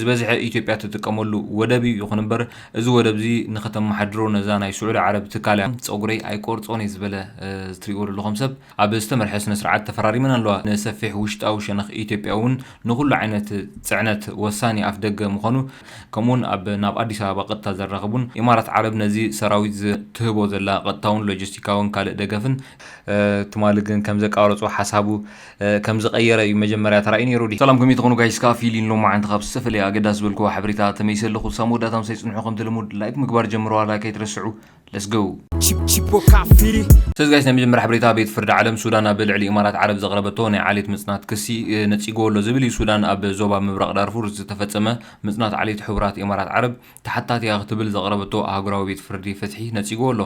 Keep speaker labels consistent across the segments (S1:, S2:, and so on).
S1: ዝበዝሐ ኢትዮጵያ ትጥቀመሉ ወደብ እዩ። ይኹን እምበር እዚ ወደብ እዚ ንኸተመሓድሮ ነዛ ናይ ስዑዲ ዓረብ ትካል እያ። ፀጉረይ ኣይቆርፆን እየ ዝበለ ዝትሪእዎ ዘለኹም ሰብ ኣብ ዝተመርሐ ስነ ስርዓት ተፈራሪመን ኣለዋ። ንሰፊሕ ውሽጣዊ ሸነኽ ኢትዮጵያ እውን ንኹሉ ዓይነት ፅዕነት ወሳኒ ኣፍ ደገ ምኾኑ ከምኡ እውን ኣብ ናብ ኣዲስ ኣበባ ቐጥታ ዘራኽቡን ኢማራት ዓረብ ነዚ ሰራዊት ዝትህቦ ዘላ ቐጥታውን ሎጂስቲካውን ካልእ ደገፍን ትማሊ ግን ከምዘቃረፆ ሓሳቡ ከም ዝቀየረ እዩ መጀመርያ ተራእዩ ነይሩ ድዩ? ሰላም ከመይ ትኾኑ ጋይስ ከኣ ፊሊን ሎማዓንቲ ካብ ዝተፈለየ ኣገዳሲ ዝበልክዎ ሓበሬታ ተመሊሰ ኣለኹ ሳብ መወዳእታ ምሳይ ጽንሑ ከምቲ ልሙድ ላይክ ምግባር ጀምርዋ ላይክ ኣይትረስዑ Let's go ስለዚ ጋይስ ናይ መጀመርያ ሓበሬታ ቤት ፍርዲ ዓለም ሱዳን ኣብ ልዕሊ ኢማራት ዓረብ ዘቅረበቶ ናይ ዓሌት ምጽናት ክሲ ነጺግዎ ኣሎ ዝብል እዩ ሱዳን ኣብ ዞባ ምብራቅ ዳርፉር ዝተፈጸመ ምጽናት ዓሌት ሕቡራት ኢማራት ዓረብ ተሓታቲ'ያ ክትብል ዘቕረበቶ ኣህጉራዊ ቤት ፍርዲ ፍትሒ ነጺግዎ ኣሎ።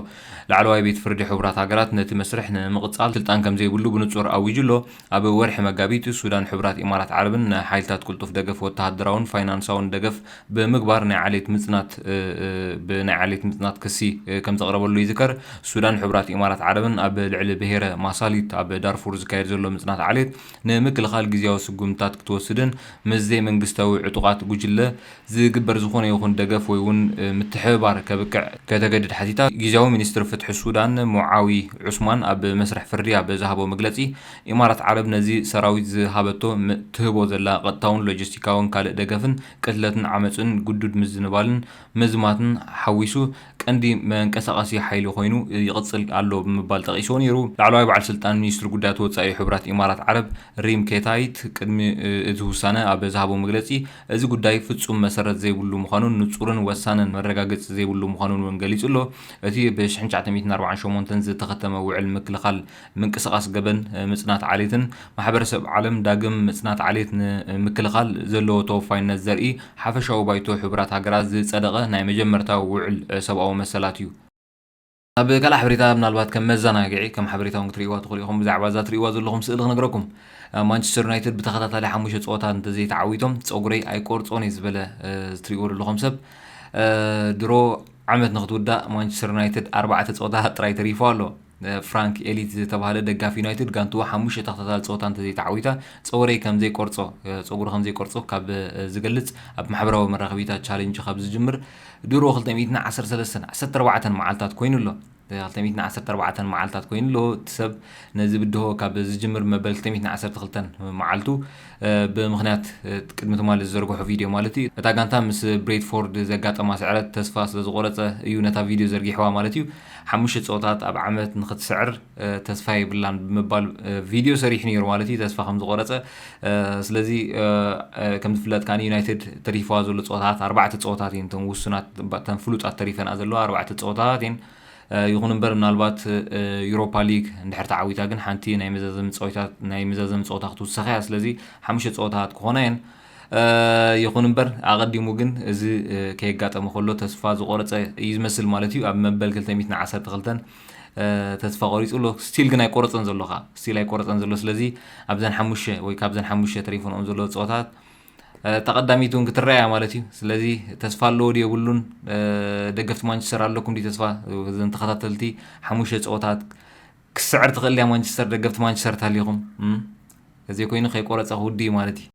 S1: ላዕለዋይ ቤት ፍርዲ ሕቡራት ሃገራት ነቲ መስርሕ ንምቕጻል ስልጣን ከምዘይብሉ ብንጹር ኣዊጁ ኣሎ። ኣብ ወርሒ መጋቢት፣ ሱዳን ሕቡራት ኢማራት ዓረብን ንሓይልታት ቅልጡፍ ደገፍ ወተሃደራውን ፋይናንሳውን ደገፍ ብምግባር ናይ ዓሌት ምጽናት ብናይ ዓሌት ምጽናት ክሲ ከምዘቕረበሉ ይዝከር። ሱዳን ሕቡራት ኢማራት ዓረብን ኣብ ልዕሊ ብሄረ ማሳሊት ኣብ ዳርፉር ዝካየድ ዘሎ ምጽናት ዓሌት ንምክልኻል ግዝያዊ ስጉምትታት ክትወስድን ምስ ዘይመንግስታዊ ዕጡቓት ጉጅለ ዝግበር ዝኾነ ይኹን ደገፍ ወይ ውን ምትሕብባር ከብቅዕ ከተገድድ ሓቲታ። ጊዚያዊ ሚኒስትር ፍትሒ ሱዳን ሙዓዊ ዑስማን ኣብ መስርሕ ፍርዲ ኣብ ዝሃቦ መግለጺ፣ ኢማራት ዓረብ ነዚ ሰራዊት ዝሃበቶ ም ትህቦ ዘላ ቀጥታውን ሎጂስቲካውን ካልእ ደገፍን ቅትለትን ዓመጽን ግዱድ ምዝንባልን ምዝማትን ሓዊሱ ቀንዲ መንቀሳቐሲ ሓይሊ ኮይኑ ይቕጽል ኣሎ ብምባል ጠቒስዎ ነይሩ። ላዕለዋይ በዓል ስልጣን ሚኒስትሪ ጉዳያት ወጻኢ ሕቡራት ኢማራት ዓረብ ሪም ኬታይት ቅድሚ እዚ ውሳነ ኣብ ዝሃቦ መግለጺ፣ እዚ ጉዳይ ፍጹም መሰረት ዘይብሉ ምዃኑን ንጹርን ወሳንን መረጋገጺ ዘይብሉ ምዃኑን እውን ገሊጹ ኣሎ። እቲ ብ ሽሕን ትሽዓተ ሚእትን ኣርባዓን ሸሞንተን ዝተኸተመ ውዕል ምክልኻል ምንቅስቓስ ገበን ምጽናት ዓሌትን፣ ማሕበረሰብ ዓለም ዳግም ምጽናት ዓሌት ን ምክልኻል ዘለዎ ተወፋይነት ዘርኢ ሓፈሻዊ ባይቶ ሕቡራት ሃገራት ዝጸደቐ ናይ መጀመርታ ውዕል ሰብኣዊ መሰላት እዩ። ኣብ ካልእ ሓበሬታ ምናልባት ከም መዘናግዒ ከም ሓበሬታ እውን ክትርእይዋ ትኽእሉ ኢኹም ብዛዕባ እዛ ትርእይዋ ዘለኹም ስእሊ ክነግረኩም ማንቸስተር ዩናይትድ ብተኸታታሊ ሓሙሽተ ፀወታት እንተዘይተዓዊቶም ፀጉረይ ኣይቆርፆን እየ ዝበለ ዝትርእይዎ ዘለኹም ሰብ ድሮ ዓመት ንክትውዳእ ማንቸስተር ዩናይትድ ኣርባዕተ ፀወታታት ጥራይ ተሪፎ ኣሎ ፍራንክ ኤሊት ዝተባሃለ ደጋፊ ዩናይትድ ጋንትዎ ሓሙሽተ ተኸታታሊ ፀወታ እንተዘይተዓዊታ ፀጉረይ ከምዘይቆርፆ ፀጉሩ ከምዘይቆርፆ ካብ ዝገልፅ ኣብ ማሕበራዊ መራኸቢታት ቻሌንጅ ካብ ዝጅምር ድሮ ክልተ ሚእትን ዓሰርተ ሰለስተን ዓሰርተ ኣርባዕተን መዓልታት ኮይኑ ኣሎ። ክልተ ሚእትን ዓሰርተ ኣርባዕተን መዓልታት ኮይኑ ኣሎ። እቲ ሰብ ነዚ ብድሆ ካብ ዝጅምር መበል ክልተ ሚእትን ዓሰርተ ክልተን መዓልቱ ብምኽንያት ቅድሚ ትማሊ ዝዘርግሖ ቪድዮ ማለት እዩ። እታ ጋንታ ምስ ብሬትፎርድ ዘጋጠማ ስዕረት ተስፋ ስለዝቖረጸ እዩ ነታ ቪድዮ ዘርጊሕዋ ማለት እዩ። ሓሙሽተ ጸወታት ኣብ ዓመት ንኽትስዕር ተስፋ የብላን ብምባል ቪድዮ ሰሪሑ ነይሩ ማለት እዩ። ተስፋ ከምዝቖረጸ ስለዚ ከም ዝፍለጥ ከኣ ዩናይትድ ተሪፍዋ ዘሎ ፀወታት ኣርባዕተ ፀወታት እየን እተን ውሱናት እተን ፍሉጣት ተሪፈንኣ ዘለዋ ኣርባዕተ ፀወታት እየን ይኹን እምበር ምናልባት ዩሮፓ ሊግ እንድሕር ተዓዊታ ግን ሓንቲ ናይ መዛዘሚ ፀወታት ናይ መዛዘሚ ፀወታ ክትውሰኽ እያ ስለዚ ሓሙሽተ ፀወታት ክኾና እየን ይኹን እምበር ኣቐዲሙ ግን እዚ ከየጋጠመ ከሎ ተስፋ ዝቆረፀ እዩ ዝመስል ማለት እዩ ኣብ መበል 212 ተስፋ ቆሪጹ ኣሎ ስቲል ግን ኣይቆረጸን ዘሎ ከኣ ስቲል ኣይቆረጸን ዘሎ ስለዚ ኣብዘን ሓሙሸ ወይ ካብዘን ሓሙሸ ተሪፈንኦም ዘለዎ ፀወታት ተቐዳሚት እውን ክትረኣያ ማለት እዩ ስለዚ ተስፋ ኣለዎ ድ የብሉን ደገፍቲ ማንቸስተር ኣለኩም ድ ተስፋ ዘን ተኸታተልቲ ሓሙሸ ፀወታት ክስዕር ትኽእል ድያ ማንቸስተር ደገፍቲ ማንቸስተር ተሃሊኹም እዘይ ኮይኑ ከይቆረፀ ክውድ እዩ ማለት እዩ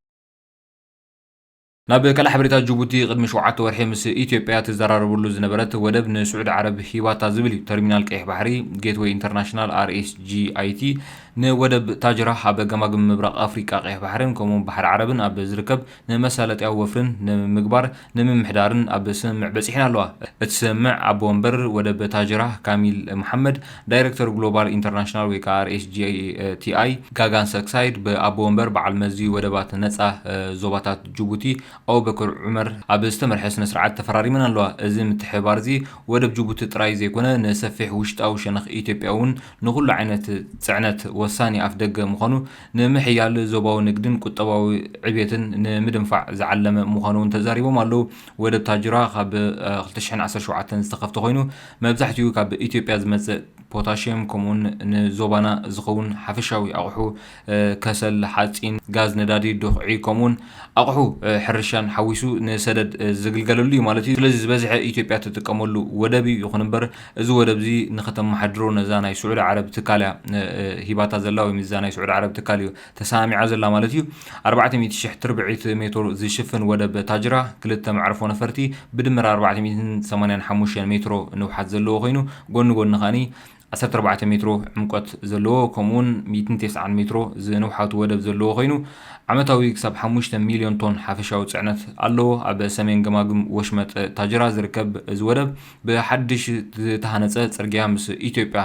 S1: ናብ ካልእ ሓበሬታ ጅቡቲ ቅድሚ ሸውዓተ ወርሒ ምስ ኢትዮጵያ ትዘራረበሉ ዝነበረት ወደብ ንስዑዲ ዓረብ ሂባታ ዝብል እዩ። ተርሚናል ቀይሕ ባሕሪ፣ ጌትወይ ኢንተርናሽናል፣ RSGIT፣ ንወደብ ታጅራህ ኣብ ገማግም ምብራቕ ኣፍሪቃ ቀይሕ ባሕርን ከምኡ'ውን ባሕሪ ዓረብን ኣብ ዝርከብ ንመሳለጥያ ወፍርን ንምግባር ንምምሕዳርን ኣብ ስምምዕ በጺሐን ኣለዋ። እቲ ስምምዕ ኣቦ ወንበር ወደብ ታጅራህ ካሚል መሓመድ ዳይረክተር ግሎባል ኢንተርናሽናል ወይ ከኣ RSGTI ጋጋን ሰክሳይድ ብኣቦ ወንበር በዓል መዚ ወደባት ነጻ ዞባታት ጅቡቲ ኣቡበከር ዑመር ኣብ ዝተመርሐ ስነ ስርዓት ተፈራሪመን ኣለዋ። እዚ ምትሕብባር'ዚ ወደብ ጅቡቲ ጥራይ ዘይኮነ ንሰፊሕ ውሽጣዊ ሸነኽ ኢትዮጵያ'ውን ንኹሉ ዓይነት ጽዕነት ወሳኒ ኣፍደገ ምዃኑ ንምሕያል ዞባዊ ንግድን ቁጠባዊ ዕብየትን ንምድንፋዕ ዝዓለመ ምዃኑ'ውን ተዛሪቦም ኣለዉ። ወደብ ታጁራ ካብ ክልተ ሽሕን ዓሰርተ ሸውዓተን ዝተኸፍተ ኮይኑ መብዛሕትኡ ካብ ኢትዮጵያ ዝመጽእ ፖታሽየም ከምኡውን ንዞባና ዝኸውን ሓፈሻዊ ኣቑሑ ከሰል፣ ሓጺን፣ ጋዝ፣ ነዳዲ፣ ዱኽዒ ከምኡውን ኣቑሑ ሕርሻን ሓዊሱ ንሰደድ ዝግልገለሉ እዩ ማለት እዩ። ስለዚ ዝበዝሐ ኢትዮጵያ ትጥቀመሉ ወደብ እዩ። ይኹን እምበር እዚ ወደብ እዚ ንኸተመሓድሮ ነዛ ናይ ስዑዲ ዓረብ ትካል እያ ሂባታ ዘላ ወይም እዛ ናይ ስዑዲ ዓረብ ትካል እዩ ተሰማሚዓ ዘላ ማለት እዩ። ኣርባዕተ ሚእቲ ሽሕ ትርብዒት ሜቶር ዝሽፍን ወደብ ታጅራ፣ ክልተ መዕርፎ ነፈርቲ፣ ብድምር ኣርባዕተ ሚእትን ሰማንያን ሓሙሽተን ሜትሮ ንውሓት ዘለዎ ኮይኑ፣ ጎኒ ጎኒ ከኣ ዓሰርተ ኣርባዕተ ሜትሮ ዕምቆት ዘለዎ ከምኡ'ውን ሚእትን ቴስዓን ሜትሮ ዝንውሓቱ ወደብ ዘለዎ ኮይኑ፣ ዓመታዊ ክሳብ ሓሙሽተ ሚልዮን ቶን ሓፈሻዊ ጽዕነት ኣለዎ። ኣብ ሰሜን ገማግም ወሽመጥ ታጅራ ዝርከብ እዚ ወደብ፣ ብሓድሽ ዝተሃነፀ ፅርግያ ምስ ኢትዮጵያ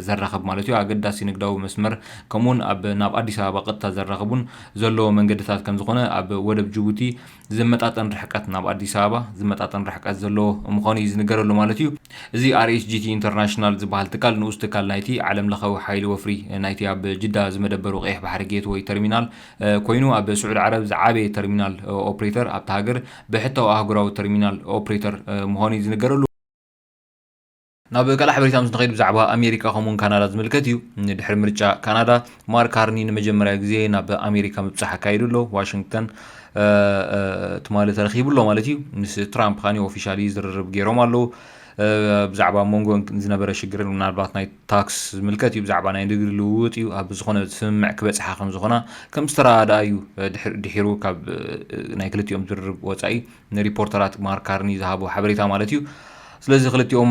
S1: ዘራኽብ ማለት እዩ፣ ኣገዳሲ ንግዳዊ መስመር ከምኡ እውን ኣብ ናብ ኣዲስ ኣበባ ቀጥታ ዘራኽቡን ዘለዎ መንገድታት ከምዝኾነ ኣብ ወደብ ጅቡቲ ዝመጣጠን ርሕቀት ናብ ኣዲስ ኣበባ ዝመጣጠን ርሕቀት ዘለዎ ምዃኑ እዩ ዝንገረሉ ማለት እዩ። እዚ RHGT International ዝበሃል ትካል ንኡስ ትካል ናይቲ ዓለም ለኸዊ ሓይሊ ወፍሪ ናይቲ ኣብ ጅዳ ዝመደበሩ ቀይሕ ባሕሪ ጌትወይ ተርሚናል፣ ኮይኑ ኣብ ስዑድ ዓረብ ዝዓበየ ተርሚናል ኦፕሬተር ኣብታ ሃገር ብሕታዊ ኣህጉራዊ ተርሚናል ኦፕሬተር ምዃኑ እዩ ዝንገረሉ። ናብ ካልእ ሓበሬታ ምስ ንኸይድ ብዛዕባ ኣሜሪካ ከምኡውን ካናዳ ዝምልከት እዩ። ድሕሪ ምርጫ ካናዳ ማርክ ካርኒ ንመጀመርያ ግዜ ናብ ኣሜሪካ ምብጻሕ ኣካይዱ ኣሎ። ዋሽንግተን ትማሊ ተረኺቡ ኣሎ ማለት እዩ። ምስ ትራምፕ ካኒ ኦፊሻሊ ዝርርብ ገይሮም ኣለዉ። ብዛዕባ ሞንጎ ዝነበረ ሽግርን ምናልባት ናይ ታክስ ዝምልከት እዩ ብዛዕባ ናይ ንግዲ ልውውጥ እዩ ኣብ ዝኾነ ስምምዕ ክበጽሓ ከም ዝኾና ከም ዝተረኣደኣ እዩ ድሒሩ ካብ ናይ ክልቲኦም ዝርርብ ወጻኢ ንሪፖርተራት ማርክ ካርኒ ዝሃቦ ሓበሬታ ማለት እዩ ስለዚ ክልቲኦም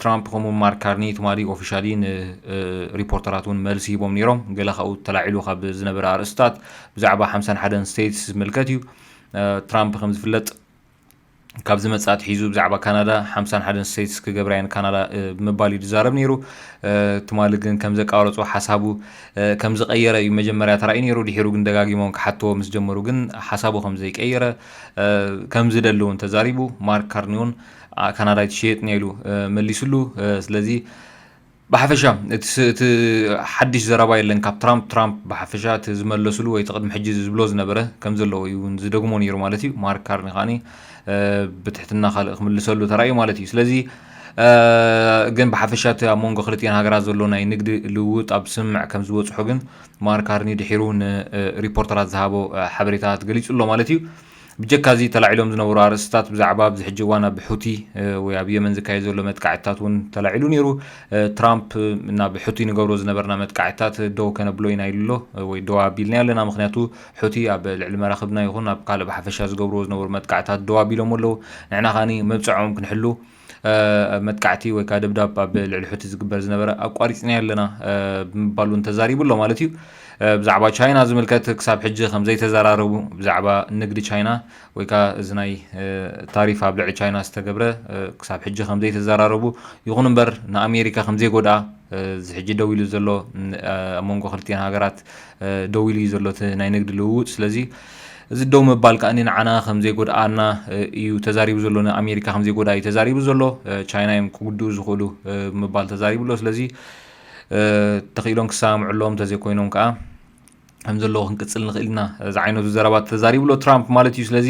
S1: ትራምፕ ከምኡ ማርክ ካርኒ ትማሊ ኦፊሻሊ ንሪፖርተራት እውን መልሲ ሂቦም ነይሮም ገለ ካብኡ ተላዒሉ ካብ ዝነበረ ኣርእስታት ብዛዕባ ሓምሳን ሓደን ስቴትስ ዝምልከት እዩ ትራምፕ ከም ዝፍለጥ ካብ ዝመጽእ ኣትሒዙ ብዛዕባ ካናዳ ሓምሳን ሓደን ስቴትስ ክገብራ እየን ካናዳ ብምባል እዩ ዝዛረብ ነይሩ ትማሊ ግን ከም ዘቃረጾ ሓሳቡ ከም ዝቀየረ እዩ መጀመርያ ተራእዩ ነይሩ ድሒሩ ግን ደጋጊሞም ክሓትዎ ምስ ጀመሩ ግን ሓሳቡ ከም ዘይቀየረ ከም ዝደሊ እውን ተዛሪቡ ማርክ ካርኒዮን ካናዳ ይትሸየጥ ኔሉ መሊስሉ ስለዚ ብሓፈሻ እቲ እቲ ሓድሽ ዘረባ የለን ካብ ትራምፕ ትራምፕ ብሓፈሻ እቲ ዝመለስሉ ወይ ቅድሚ ሕጂ ዝብሎ ዝነበረ ከም ዘለዎ እዩ ዝደግሞ ነይሩ ማለት እዩ ማርክ ካርኒ ከዓኒ ብትሕትና ካልእ ክምልሰሉ ተራእዩ ማለት እዩ ስለዚ ግን ብሓፈሻ እቲ ኣብ መንጎ ክልቲኤን ሃገራት ዘሎ ናይ ንግዲ ልውውጥ ኣብ ስምምዕ ከም ዝበፅሑ ግን ማርክ ካርኒ ድሒሩ ንሪፖርተራት ዝሃቦ ሓበሬታት ገሊጹ ኣሎ ማለት እዩ ብጀካ እዚ ተላዒሎም ዝነበሩ ኣርእስትታት ብዛዕባ ኣብዚ ሕጂ እዋን ኣብ ሑቲ ወይ ኣብ የመን ዝካየድ ዘሎ መጥቃዕትታት እውን ተላዒሉ ነይሩ። ትራምፕ ናብ ሑቲ ንገብሮ ዝነበርና መጥቃዕትታት ደው ከነብሎ ኢና ኢሉ ኣሎ ወይ ደው ኣቢልናዮ ኣለና ምኽንያቱ ሑቲ ኣብ ልዕሊ መራኽብና ይኹን ኣብ ካልእ ብሓፈሻ ዝገብርዎ ዝነበሩ መጥቃዕትታት ደው ኣቢሎሞ ኣለዉ ንሕና ከኣ መብጽዐኦም ክንሕሉ መጥቃዕቲ ወይ ከዓ ደብዳብ ኣብ ልዕሊ ሑቲ ዝግበር ዝነበረ ኣቋሪፅናዮ ኣለና ብምባል እውን ተዛሪቡ ኣሎ ማለት እዩ ብዛዕባ ቻይና ዝምልከት ክሳብ ሕጂ ከምዘይተዘራረቡ ብዛዕባ ንግዲ ቻይና ወይ ከዓ እዚ ናይ ታሪፍ ኣብ ልዕሊ ቻይና ዝተገብረ ክሳብ ሕጂ ከምዘይተዘራረቡ ይኹን እምበር ንኣሜሪካ ከምዘይጎድኣ እዚ ሕጂ ደው ኢሉ ዘሎ ኣብ መንጎ ክልቲኤን ሃገራት ደው ኢሉ እዩ ዘሎ እቲ ናይ ንግዲ ልውውጥ ስለዚ እዚ ደው ምባል ከኣ ንዓና ከም ዘይጎድኣና እዩ ተዛሪቡ ዘሎ፣ ንኣሜሪካ ከም ዘይጎድኣ እዩ ተዛሪቡ ዘሎ፣ ቻይና እዮም ክጉድኡ ዝኽእሉ ብምባል ተዛሪቡ ኣሎ። ስለዚ ተኽኢሎም ክሰማምዑ ኣለዎም፣ እንተዘይኮይኖም ከኣ ከም ዘለዎ ክንቅጽል ንኽእል ኢና ዝዓይነቱ ዘረባ ተዛሪቡ ኣሎ ትራምፕ ማለት እዩ። ስለዚ